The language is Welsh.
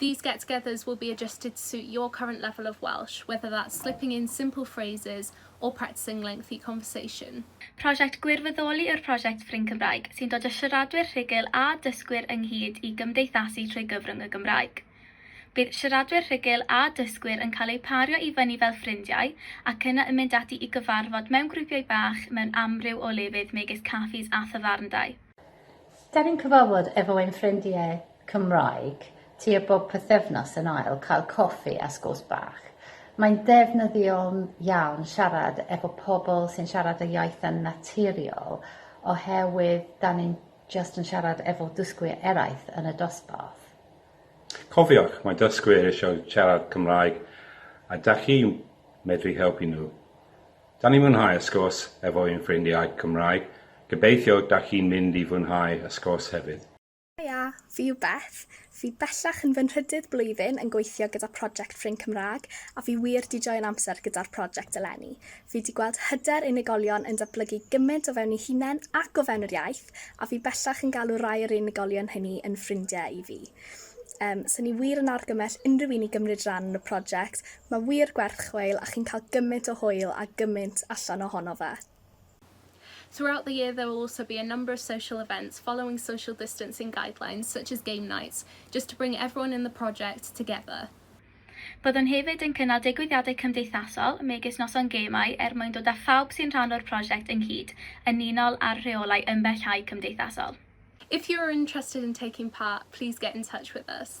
These get togethers will be adjusted to suit your current level of Welsh, whether that's slipping in simple phrases or practising lengthy conversation. Prosiect Gwirfoddoli yw'r prosiect Ffrind Cymraeg, sy'n dod â siaradwyr rhugl a dysgwyr ynghyd i gymdeithasu trwy gyfrwng y Gymraeg. Bydd siaradwyr rhugl a dysgwyr yn cael eu pario i fyny fel ffrindiau ac yna yn mynd ati i gyfarfod mewn grwpiau bach mewn amryw o lefydd megis caffis a thafarndai. Dan ni'n cyfarfod efo ein ffrindiau Cymraeg tua bob pythefnos yn ail cael coffi a sgwrs bach. Mae'n ddefnyddiol iawn siarad efo pobl sy'n siarad y iaith yn naturiol oherwydd dan ni'n jyst yn siarad efo dysgwyr eraill yn y dosbarth. Cofiwch, mae dysgwyr eisiau siarad Cymraeg a dach chi'n medru helpu nhw. Da ni mwynhau y sgwrs efo ein ffrindiau Cymraeg, gobeithio da chi'n mynd i fwynhau y sgwrs hefyd. Haia, fi yw Beth, fi bellach yn fy nhrydydd blwyddyn yn gweithio gyda project Ffrind Cymraeg a fi wir di joio'n amser gyda'r project eleni. Fi di gweld hyder unigolion yn datblygu gymaint o fewn eu hunain ac o fewn yr iaith a fi bellach yn galw rai o'r unigolion hynny yn ffrindiau i fi. Yym, 'sen ni wir yn argymell unrhyw un i gymryd ran yn y project, Mae wir gwerth chweil a chi'n cael gymaint o hwyl a gymaint allan ohono fe. Throughout the year there will also be a number of social events following social distancing guidelines such as game nights, just to bring everyone in the project together. Byddwn hefyd yn cynnal digwyddiadau cymdeithasol, megis noson gemau, er mwyn dod â phawb sy'n rhan o'r prosiect ynghyd, yn unol â'r rheolau ymbellhau cymdeithasol. If you are interested in taking part, please get in touch with us.